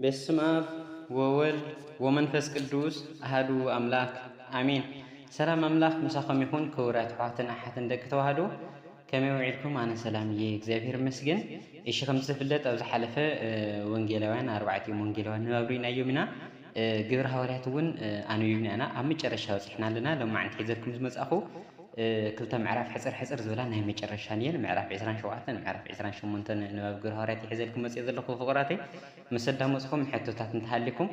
በስም አብ ወወልድ ወመንፈስ ቅዱስ አህዱ አምላክ አሜን። ሰላም አምላክ ምሳኹም ይኹን ክቡራት ኣሕዋትን ኣሓትን ደቂ ተዋህዶ ከመይ ውዒልኩም ኣነ ሰላም እየ እግዚኣብሔር ይመስገን እሺ ከምቲ ዝፍለጥ ኣብ ዝሓለፈ ወንጌላውያን ኣርባዕቲኦም ወንጌላውያን ንባብ ርኢናዮም ኢና ግብረ ሃዋርያት እውን ኣንቢብና ኢና ኣብ መጨረሻ በፂሕና ኣለና ሎማዕንቲ ሒዘልኩም ዝመፃኹ ክልተ ምዕራፍ ሕፅር ሕፅር ዝበላ ናይ መጨረሻ ንየን ምዕራፍ 27 ምዕራፍ 28 ንባብ ግብረ ሃዋርያት ይሕዘልኩም መፅኦ ዘለኹ ፍቕራተይ ምስ ኣዳመፅኹም ሕቶታት እንተሃሊኩም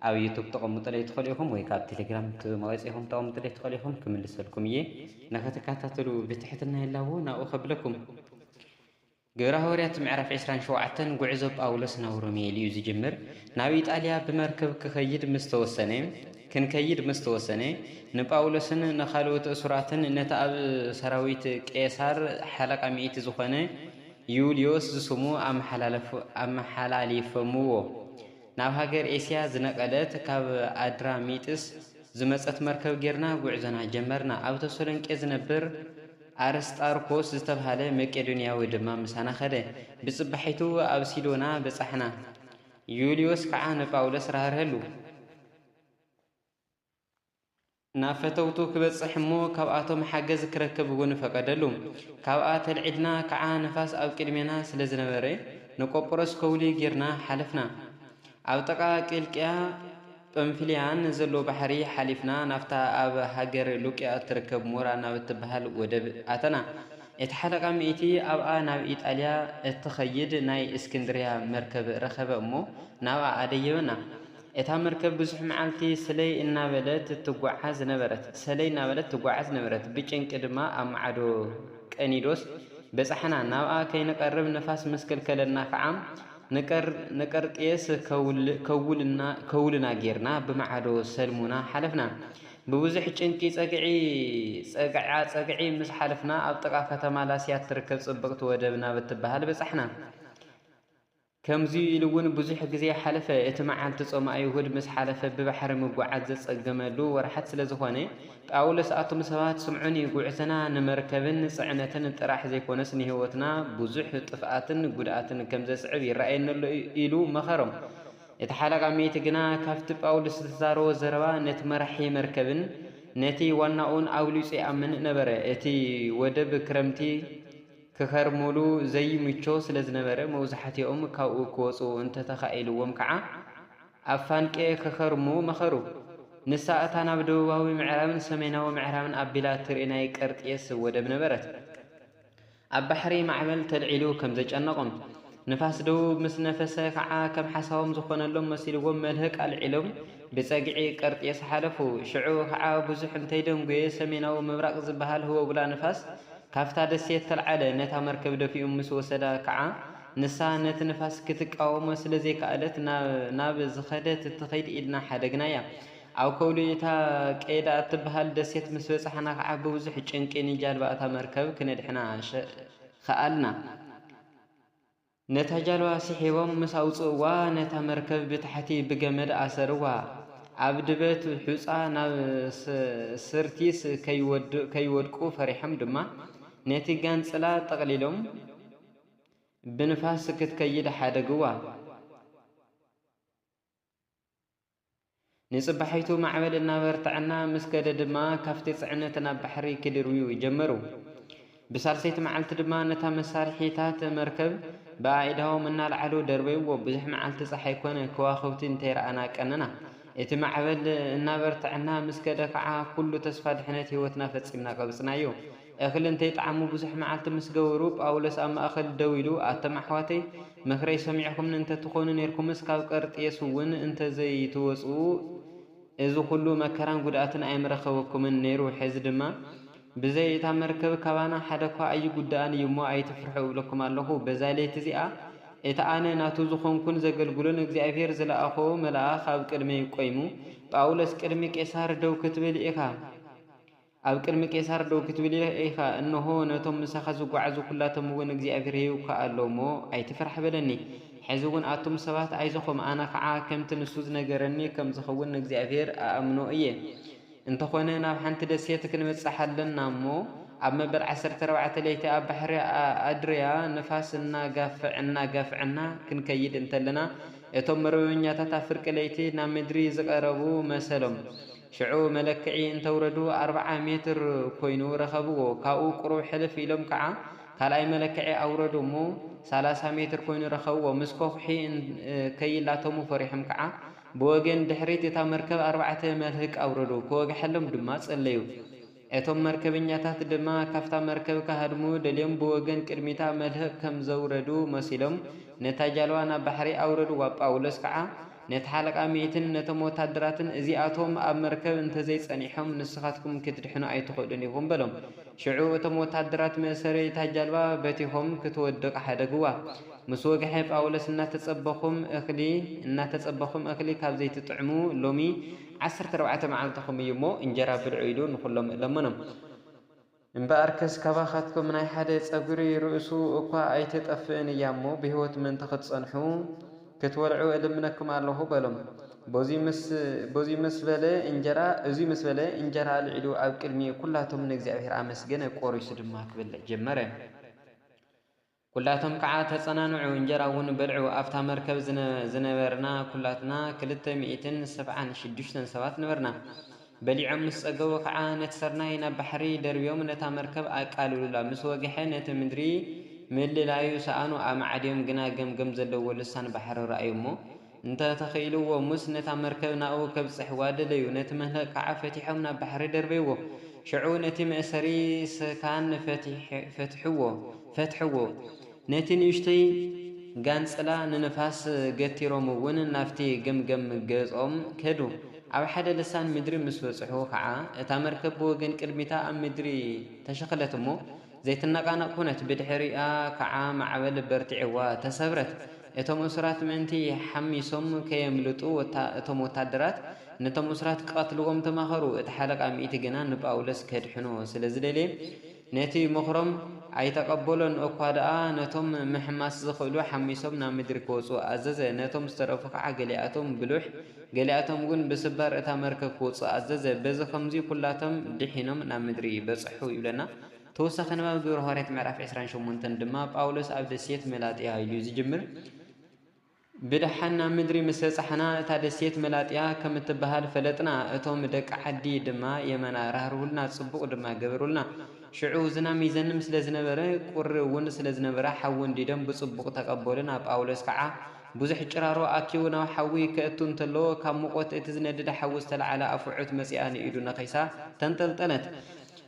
ኣብ ዩቱብ ተቐምጡለይ ትኽእሉ ኢኹም ወይ ካብ ቴሌግራም መወፂኹም ተቐምጡለይ ትኽእሉ ኢኹም ክምልሰልኩም እየ ንኽትከታተሉ ብትሕትና ይላቦ ናብኡ ከብለኩም። ግብረ ሃዋርያት ምዕራፍ ዕስራን ሸውዓተን ጉዕዞ ጳውሎስ ናብ ሮሜ ኢሉ እዩ ዝጅምር። ናብ ኢጣልያ ብመርከብ ክኸይድ ምስ ተወሰነ ክንከይድ ምስ ተወሰነ ንጳውሎስን ንኻልኦት እሱራትን ነቲ ኣብ ሰራዊት ቄሳር ሓለቓ ሚእቲ ዝኾነ ዩልዮስ ዝስሙ ኣመሓላሊፎምዎ። ናብ ሃገር ኤስያ ዝነቐለት ካብ ኣድራሚጥስ ዝመጸት መርከብ ጌርና ጕዕዞና ጀመርና። ኣብ ተሰሎንቄ ዝነብር ኣርስጣርኮስ ዝተብሃለ መቄዶንያዊ ድማ ምሳና ኸደ። ብጽባሒቱ ኣብ ሲዶና በጻሕና፣ ዩልዮስ ከዓ ንጳውሎስ ራህርሀሉ። ናብ ፈተውቱ ክበጽሕ እሞ ካብኣቶም ሓገዝ ክረክብ እውን ፈቀደሉ። ካብኣ ተልዒልና ከዓ ንፋስ ኣብ ቅድሜና ስለ ዝነበረ ንቆጵሮስ ከውሊ ጌርና ሓለፍና። ኣብ ጥቃ ቂልቅያ ጰምፍልያን ንዘሎ ባሕሪ ሓሊፍና ናብታ ኣብ ሃገር ሉቅያ እትርከብ ሞራ ናብ እትበሃል ወደብ ኣተና። እቲ ሓለቓ ሚእቲ ኣብኣ ናብ ኢጣልያ እትኸይድ ናይ እስክንድርያ መርከብ ረኸበ እሞ ናብኣ ኣደየበና። እታ መርከብ ብዙሕ መዓልቲ ስለይ እናበለት ትጓዓዝ ነበረት። ሰለይ እናበለት ትጓዓዝ ነበረት። ብጭንቂ ድማ ኣብ ማዕዶ ቀኒዶስ በጻሕና። ናብኣ ከይንቐርብ ንፋስ ምስ ከልከለና ከኣ ንቀርጤስ ከውልና ጌርና ብማዕዶ ሰልሙና ሓለፍና። ብብዙሕ ጭንቂ ጸግዒ-ጸግዒ ምስ ሓለፍና ኣብ ጥቓ ከተማ ላስያ እትርከብ ጽብቕቲ ወደብ ናብ እትበሃል በጻሕና። ከምዚ'ዩ ኢሉ'ውን ብዙሕ ግዜ ሓለፈ። እቲ መዓልቲ ጾመ ኣይሁድ ምስ ሓለፈ ብባሕሪ ምጉዓዝ ዘጸገመሉ ወርሓት ስለ ዝኾነ፣ ጳውሎስ ኣቱም ሰባት ስምዑኒ፣ ጕዕዞና ንመርከብን ጽዕነትን ጥራሕ ዘይኰነስ ንህይወትና ብዙሕ ጥፍኣትን ጕድኣትን ከም ዘስዕብ ይርኣየኒ ኣሎ ኢሉ መኸሮም። እቲ ሓለቓ-ሚእቲ ግና ካብቲ ጳውሎስ ዝተዛረቦ ዘረባ ነቲ መራሒ መርከብን ነቲ ዋናኡን ኣብሊጹ ይኣምን ነበረ። እቲ ወደብ ክረምቲ ክኸርምሉ ዘይምቹ ስለ ዝነበረ መብዛሕትኦም ካብኡ ክወጹ እንተ ተኻኢልዎም ከኣ፣ ኣብ ፋንቄ ክኸርሙ መኸሩ። ንሳ እታ ናብ ደቡባዊ ምዕራብን ሰሜናዊ ምዕራብን ኣቢላ እትርኢ ናይ ቀርጤስ ወደብ ነበረት። ኣብ ባሕሪ ማዕበል ተልዒሉ ከም ዘጨነቖም፣ ንፋስ ደቡብ ምስ ነፈሰ ኸዓ ከም ሓሳቦም ዝኾነሎም መሲልዎም መልህቅ ኣልዒሎም ብጸግዒ ቀርጤስ ሓለፉ። ሽዑ ኸዓ ብዙሕ እንተይደንጎየ ሰሜናዊ ምብራቕ ዝበሃል ህቦብላ ንፋስ ካብታ ደሴት ተልዓለ። ነታ መርከብ ደፊኡ ምስ ወሰዳ ኸዓ ንሳ ነቲ ንፋስ ክትቃወሞ ስለ ዘይከኣለት ናብ ዝኸደት ትኺድ ኢልና ሓደግናያ። ኣብ ከብሉ እታ ቀይዳ እትበሃል ደሴት ምስ በጻሕና ከኣ ብብዙሕ ጭንቂ ንጃልባ እታ መርከብ ክነድሕና ኸኣልና። ነታ ጃልባ ስሒቦም ምስ ኣውጽእዋ ነታ መርከብ ብታሕቲ ብገመድ ኣሰርዋ። ኣብ ድበት ሑጻ ናብ ስርቲስ ከይወድቁ ፈሪሖም ድማ ነቲ ጋንጽላ ጠቕሊሎም፣ ብንፋስ ክትከይድ ሓደግዋ። ንጽባሒቱ ማዕበል እናበርትዐና ምስ ከደ ድማ ካብቲ ጽዕነት ናብ ባሕሪ ክድርብዩ ጀመሩ። ብሳልሰይቲ መዓልቲ ድማ ነታ መሳርሒታት መርከብ ብኣኢዳዎም እናልዓሉ ደርበይዎ። ብዙሕ መዓልቲ ፀሓይ ኮነ ከዋኽብቲ እንተይረኣና ቀነና። እቲ ማዕበል እናበርትዐና ምስ ከደ ከዓ ኩሉ ተስፋ ድሕነት ህይወትና ፈፂምና ቀብፅናዮ። እኽሊ እንተይጠዓሙ ብዙሕ መዓልቲ ምስ ገበሩ፣ ጳውሎስ ኣብ ማእከል ደው ኢሉ፣ ኣቱም ኣሕዋተይ፣ ምኽረይ ሰሚዕኩምኒ እንተ ትዀኑ ኔርኩምስ፣ ካብ ቀርጤስውን እንተ ዘይትወጽኡ፣ እዚ ዅሉ መከራን ጕድኣትን ኣይምረኸበኩምን ነይሩ። ሕዚ ድማ፣ ብዘይ እታ መርከብ ካባና ሓደ እኳ ኣይጕዳእን እዩ እሞ፣ ኣይትፍርሑ እብለኩም ኣለኹ። በዛ ለይቲ እዚኣ፣ እቲ ኣነ ናቱ ዝዀንኩን ዘገልግሎን እግዚኣብሄር ዝለኣኾ መልኣኽ ኣብ ቅድመይ ቈይሙ፣ ጳውሎስ፣ ቅድሚ ቄሳር ደው ክትብል ኢኻ። ኣብ ቅድሚ ቄሳር ደው ክትብል ኢኻ፣ እንሆ፣ ነቶም ምሳኻ ዝጐዓዙ ኵላቶምውን እግዚኣብሄር ይውክኣ ኣሎ እሞ፣ ኣይትፍራሕ በለኒ። ሕዚውን ኣቱም ሰባት ኣይዞኹም፣ ኣነ ኸዓ ከምቲ ንሱ ዝነገረኒ ከም ዝኸውን ንእግዚኣብሄር እኣምኖ እየ። እንተ ዀነ ናብ ሓንቲ ደሴት ክንበጽሕ ኣለና እሞ፣ ኣብ መበል ዓሰርተ ኣርባዕተ ለይቲ ኣብ ባሕሪ ኣድርያ ንፋስ እናጋፍዕ እናጋፍዐና ክንከይድ እንተለና፣ እቶም መርበበኛታት ኣብ ፍርቂ ለይቲ ናብ ምድሪ ዝቐረቡ መሰሎም። ሽዑ መለክዒ እንተውረዱ ኣርብዓ ሜትር ኮይኑ ረኸብዎ። ካብኡ ቁሩብ ሕልፍ ኢሎም ከዓ ካልኣይ መለክዒ ኣውረዱ እሞ ሰላሳ ሜትር ኮይኑ ረኸብዎ። ምስ ከውሒ ከይላተሙ ፈሪሖም ከዓ ብወገን ድሕሪት እታ መርከብ ኣርባዕተ መልህቅ ኣውረዱ። ክወግሐሎም ድማ ፀለዩ። እቶም መርከበኛታት ድማ ካብታ መርከብ ክሃድሙ ደልዮም ብወገን ቅድሚታ መልህቕ ከም ዘውረዱ መሲሎም ነታ ጃልዋ ናብ ባሕሪ ኣውረድዋ። ጳውሎስ ከኣ ነቲ ሓለቓ ሚእትን ነቶም ወተሃደራትን እዚኣቶም ኣብ መርከብ እንተ ዘይጸኒሖም ንስኻትኩም ክትድሕኑ ኣይትኽእሉን ኢኹም በሎም። ሽዑ እቶም ወተሃደራት መእሰሪ እታ ጃልባ በቲኾም ክትወድቕ ሓደግዋ። ምስ ወግሐ ጳውሎስ እናተጸበኹም እኽሊ እናተጸበኹም እኽሊ ካብ ዘይትጥዕሙ ሎሚ ዓሰርተ ኣርባዕተ መዓልትኹም እዩ እሞ እንጀራ ብልዑ ኢሉ ንኹሎም ለመኖም። እምበኣርከስ ካባኻትኩም ናይ ሓደ ጸጉሪ ርእሱ እኳ ኣይትጠፍእን እያ እሞ ብህይወት ምእንቲ ኽትጸንሑ፣ ክትበልዑ እልምነኩም ኣሎኹ በሎም። በዙይ ምስ በለ እንጀራ ኣልዒሉ ኣብ ቅድሚ ኵላቶም ንእግዚኣብሔር ኣመስገነ፣ ቈሪሱ ድማ ክበልዕ ጀመረ። ኩላቶም ከዓ ተፀናንዑ እንጀራ እውን በልዑ። ኣብታ መርከብ ዝነበርና ኩላትና ክልተ ሚኢትን ሰብዓን ሽዱሽተን ሰባት ነበርና። በሊዖም ምስ ፀገቡ ከዓ ነቲ ስርናይ ናብ ባሕሪ ደርብዮም ነታ መርከብ ኣቃለሉላ። ምስ ወግሐ ነቲ ምድሪ ምልላዩ ሰኣኑ። ኣማዕድዮም ግና ገምገም ዘለዎ ልሳን ባሕሪ ረኣዩ እሞ እንተ ተኺኢልዎ ሙስ ነታ መርከብ ናብኡ ከብጽሕዋ ደለዩ። ነቲ መንህቅ ከኣ ፈቲሖም ናብ ባሕሪ ደርበይዎ። ሽዑ ነቲ መእሰሪ ሰካን ፈትሕዎ። ነቲ ንእሽቶይ ጋንጽላ ንንፋስ ገቲሮም'ውን ናብቲ ገምገም ገጾም ከዱ። ኣብ ሓደ ልሳን ምድሪ ምስ በጽሑ ከኣ እታ መርከብ ብወገን ቅድሚታ ኣብ ምድሪ ተሸኽለት እሞ ዘይትነቓነቕ ኮነት። ብድሕሪኣ ከኣ ማዕበል በርቲዕዋ ተሰብረት። እቶም እሱራት ምእንቲ ሓሚሶም ከየምልጡ፣ እቶም ወተሃደራት ነቶም እሱራት ኪቐትልዎም ተማኸሩ። እቲ ሓለቓ ሚእቲ ግና ንጳውሎስ ኬድሕኖ ስለ ዝደለየ፣ ነቲ ምኽሮም ኣይተቐበሎን። እኳ ደኣ ነቶም ምሕማስ ዚኽእሉ ሓሚሶም ናብ ምድሪ ኪወጹ ኣዘዘ፣ ነቶም ዝተረፉ ኸኣ ገሊኣቶም ብሉሕ ገሊኣቶም እውን ብስባር እታ መርከብ ኪወጹ ኣዘዘ። በዚ ኸምዚ ዅላቶም ድሒኖም ናብ ምድሪ በጽሑ ይብለና። ተወሳኺ ንባብ ግብሪ ሃዋርያት ምዕራፍ ዕስራን ሸሞንተን ድማ ጳውሎስ ኣብ ደሴት መላጥያ ኢሉ ዝጅምር ብደሓን ናብ ምድሪ ምስ በጻሕና እታ ደሴት መላጥያ ከም እትበሃል ፈለጥና፣ እቶም ደቂ ዓዲ ድማ የመና ራህርሁልና፣ ጽቡቕ ድማ ገበሩልና። ሽዑ ዝናም ይዘንም ስለ ዝነበረ ቁሪ እውን ስለ ዝነበረ ሓዊ እንዲዶም ብጽቡቕ ተቐበሉና። ጳውሎስ ከዓ ብዙሕ ጭራሮ ኣኪቡ ናብ ሓዊ ከእቱ እንተሎ ካብ ሙቖት እቲ ዝነድድ ሓዊ ዝተላዕለ ኣፍዑት መጺኣ ንኢዱ ነኺሳ ተንጠልጠለት።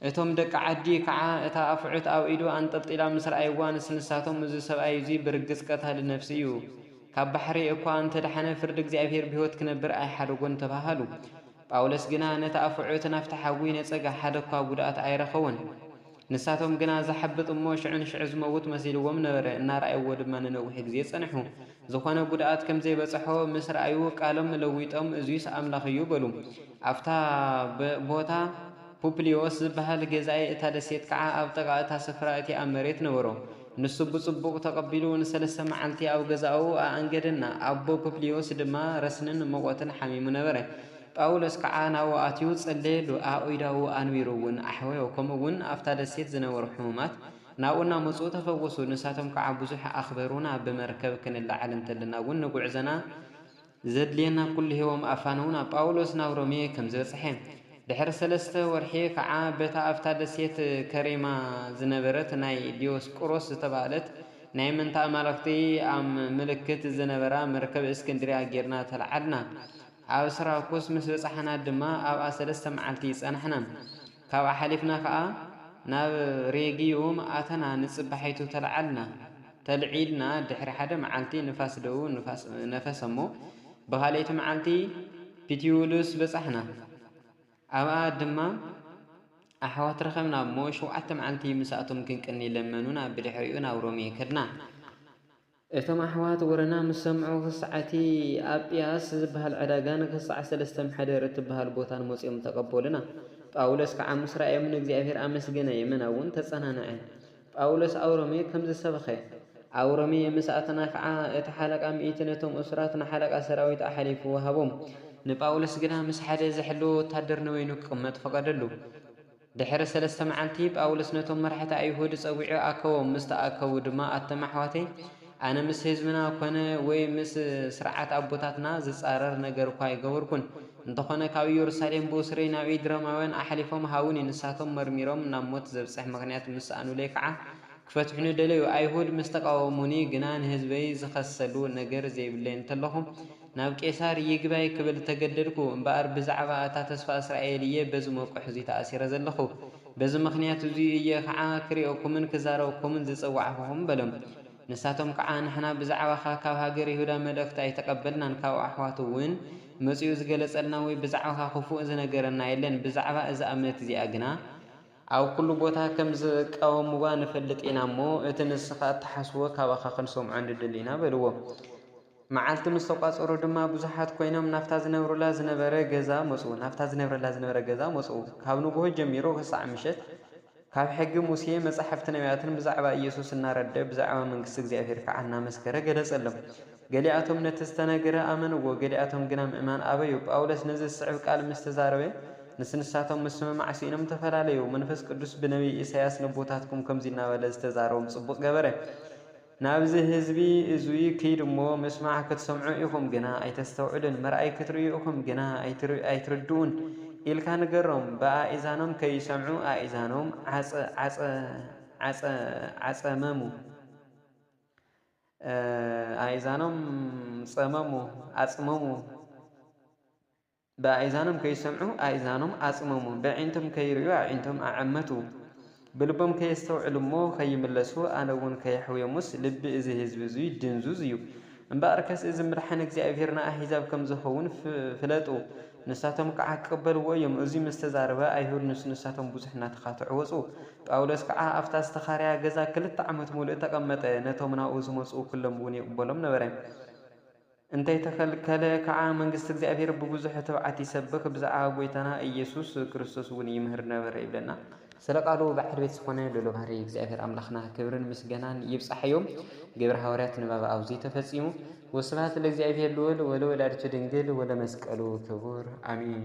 እቶም ደቂ ዓዲ ከዓ እታ ኣፍዑት ኣብ ኢዱ ኣንጠልጢላ ምስ ረኣይዋ ንስ ንሳቶም እዙ ሰብኣይ እዙይ ብርግፅ ቀታሊ ነፍሲ እዩ ካብ ባሕሪ እኳ እንተደሓነ ፍርዲ እግዚኣብሔር ብሕይወት ክነብር ኣይሓደጎን ተባሃሉ። ጳውሎስ ግና ነቲ ኣፍዑት ናፍቲ ሓዊ ነፀገ ሓደ እኳ ጉድኣት ኣይረኸቡን። ንሳቶም ግና ዝሓብጥ እሞ ሽዑ ንሽዑ ዝመውት መሲልዎም ነበረ እናረኣይዎ ድማ ንነዊሕ ግዜ ፀንሑ ዝኾነ ጉድኣት ከምዘይበፀሖ ምስ ረኣዩ ቃሎም ለዊጦም እዙይስ ኣምላኽ እዩ በሉ ኣብታ ቦታ ፑፕልዮስ ዚብሃል ገዛኢ እታ ደሴት ከኣ ኣብ ጥቓ እታ ስፍራ እቲኣ መሬት ነበሮ። ንሱ ብጽቡቕ ተቐቢሉ ንሰለስተ መዓልቲ ኣብ ገዛኡ ኣኣንገደና፣ ኣቦ ፑፕልዮስ ድማ ረስንን ምቖትን ሓሚሙ ነበረ። ጳውሎስ ከኣ ናብኡ ኣትዩ ጸለየሉ፣ ኣእዳዉ ኣንቢሩ እውን ኣሕወዮ፣ ከምኡ እውን ኣብታ ደሴት ዝነበሩ ሕሙማት ናብኡ እናመጹ ተፈወሱ። ንሳቶም ከኣ ብዙሕ ኣኽበሩና፣ ብመርከብ ክንለዓል እንተለና እውን ንጕዕዞና ዘድልየና ኩሉ ሂቦም ኣፋነዉና። ጳዉሎስ ናብ ሮሜ ከም ዝበጽሐ ድሕሪ ሰለስተ ወርሒ ከኣ በታ ኣብታ ደሴት ከሬማ ዝነበረት ናይ ዲዮስቁሮስ ዝተባህለት ናይ ምእንቲ ኣማልኽቲ ኣም ምልክት ዝነበራ መርከብ እስክንድርያ ጌርና ተላዓልና። ኣብ ስራኩስ ምስ በጻሕና ድማ ኣብኣ ሰለስተ መዓልቲ ጸናሕና። ካብኣ ሓሊፍና ከኣ ናብ ሬጊዩም ኣተና ንጽባሒቱ ተለዓልና። ተልዒልና ድሕሪ ሓደ መዓልቲ ንፋስ ደቡብ ነፈሰ'ሞ ብኻልኣይቲ መዓልቲ ፒቲዩሉስ በጻሕና። ኣብኣ ድማ ኣሕዋት ረኸብና'ሞ ሸውዓተ መዓልቲ ምስኣቶም ክንቅኒ ለመኑና ብድሕሪኡ ናብ ሮሜ ከድና። እቶም ኣሕዋት ወረና ምስ ሰምዑ፣ ክሳዕ እቲ ኣብ ጵያስ ዚበሃል ዕዳጋን ክሳዕ ሰለስተ ምሕደር እትበሃል ቦታን መጺኦም ተቐበሉና። ጳውሎስ ከኣ ምስ ረኣዮም ንእግዚኣብሄር ኣመስገነ፣ የመና'ውን ተጸናንዐ። ጳውሎስ ኣብ ሮሜ ከምዚ ሰበኸ። ኣብ ሮሜ ምስ ኣተና ከኣ፣ እቲ ሓለቓ ሚእቲ ነቶም እሱራት ንሓለቓ ሰራዊት ኣሓሊፉ ወሃቦም። ንጳውሎስ ግና ምስ ሓደ ዚሕልዎ ወተሃደር ንበይኑ ኪቕመጥ ፈቐደሉ። ድሕሪ ሰለስተ መዓልቲ፣ ጳውሎስ ነቶም መራሕቲ ኣይሁድ ጸዊዑ ኣከቦም፣ ምስ ተኣከቡ ድማ፣ ኣቱም ኣሕዋተይ፣ ኣነ ምስ ህዝብና ኰነ ወይ ምስ ስርዓት ኣቦታትና ዝጻረር ነገር እኳ ኣይገበርኩን። እንተዀነ ካብ ኢየሩሳሌም ብእሱረይ ናብ ኢድ ሮማውያን ኣሕሊፎም ሃቡኒ፣ ንሳቶም መርሚሮም ናብ ሞት ዘብጽሕ ምኽንያት ምስ ሰኣኑለይ ከኣ ክፈትሑኒ ደለዩ። ኣይሁድ ምስ ተቓወሙኒ ግና ንህዝበይ ዝኸሰሉ ነገር ዘይብለይ እንተለኹ፣ ናብ ቄሳር ይግባይ ክብል እተገደድኩ፣ እምበኣር ብዛዕባ እታ ተስፋ እስራኤል እየ በዚ መቍሕ እዚ ተኣሲረ ዘለኹ። በዚ ምኽንያት እዚ እየ ኸዓ ክርእየኩምን ክዛረበኩምን ዝጸዋዕኩኹም በሎም። ንሳቶም ከዓ ንሕና ብዛዕባኻ ካብ ሃገር ይሁዳ መልእኽቲ ኣይተቐበልናን፣ ካብ ኣሕዋቱ እውን መጺኡ ዝገለጸልና ወይ ብዛዕባኻ ኽፉእ ዝነገረና የለን፣ ብዛዕባ እዛ እምነት እዚኣ ግና፣ ኣብ ኵሉ ቦታ ከም ዝቃወምዋ ንፈልጥ ኢና እሞ፣ እቲ ንስኻ እትሓስቦ ካባኻ ኽንሰምዖ ንደሊ ኢና በልዎ። መዓልቲ ምስ ተቋጸሩ ድማ ብዙሓት ኮይኖም ናብታ ዝነብሩላ ዝነበረ ገዛ መጹ ናብታ ዝነብረላ ዝነበረ ገዛ መጹ ካብ ንጉሆ ጀሚሩ ክሳዕ ምሸት ካብ ሕጊ ሙሴ መጻሕፍቲ ነብያትን ብዛዕባ ኢየሱስ እናረደ ብዛዕባ መንግስቲ እግዚኣብሔር ከኣ እናመስከረ ገለጸሎም ገሊኣቶም ነቲ ዝተነግረ ኣመንዎ ገሊኣቶም ግና ምእማን ኣበዩ ጳውሎስ ነዚ ዝስዕብ ቃል ምስ ተዛረበ ምስ ንሳቶም ምስምማዕ ስኢኖም ተፈላለዩ መንፈስ ቅዱስ ብነብይ ኢሳይያስ ነቦታትኩም ከምዚ እናበለ ዝተዛረቦም ጽቡቕ ገበረ ናብዚ ህዝቢ እዙይ ክይድ እሞ ምስማዕ ክትሰምዑ ኢኹም ግና ኣይተስተውዕሉን፣ ምርኣይ ክትርእዩ ኢኹም ግና ኣይትርድኡን ኢልካ ንገሮም። ብኣእዛኖም ከይሰምዑ ኣእዛኖም ኣጸመሙ፣ ኣእዛኖም ጸመሙ፣ ኣጽመሙ። ብኣእዛኖም ከይሰምዑ ኣእዛኖም ኣጽመሙ፣ በዒንቶም ከይርእዩ ኣዒንቶም ኣዐመቱ፣ ብልቦም ከየስተውዕሉ እሞ ኸይምለሱ፣ ኣነ እውን ከየሕውዮምስ፣ ልቢ እዚ ህዝቢ እዙይ ድንዙዝ እዩ። እምበኣርከስ እዚ ምድሓን እግዚኣብሄር ንኣህዛብ ከም ዝኸውን ፍለጡ፣ ንሳቶም ከዓ ክቕበልዎ እዮም። እዙይ ምስ ተዛረበ፣ ኣይሁድ ምስ ንሳቶም ብዙሕ እናተኻትዑ ወፁ። ጳውሎስ ከዓ ኣብታ ዝተኻረያ ገዛ ክልተ ዓመት ምሉእ ተቐመጠ፣ ነቶም ናብኡ ዝመፁ ኵሎም እውን ይቕበሎም ነበረ። እንተይተኸልከለ ከኣ መንግስቲ እግዚኣብሔር ብብዙኅ ትብዓት ይሰብኽ ብዛዕባ ጐይታና ኢየሱስ ክርስቶስ'ውን ይምህር ነበረ ይብለና። ስለ ቃሉ በዓል ቤት ዝኾነ ልኡለ ባህርይ እግዚኣብሔር ኣምላኽና ክብርን ምስገናን ይብጻሕዮ። ግብረ ሃዋርያት ንባብ ኣብዙይ ተፈጺሙ። ወስብሐት ለእግዚኣብሔር ልዑል ወለወላዲቱ ድንግል ወለመስቀሉ ክቡር ኣሜን።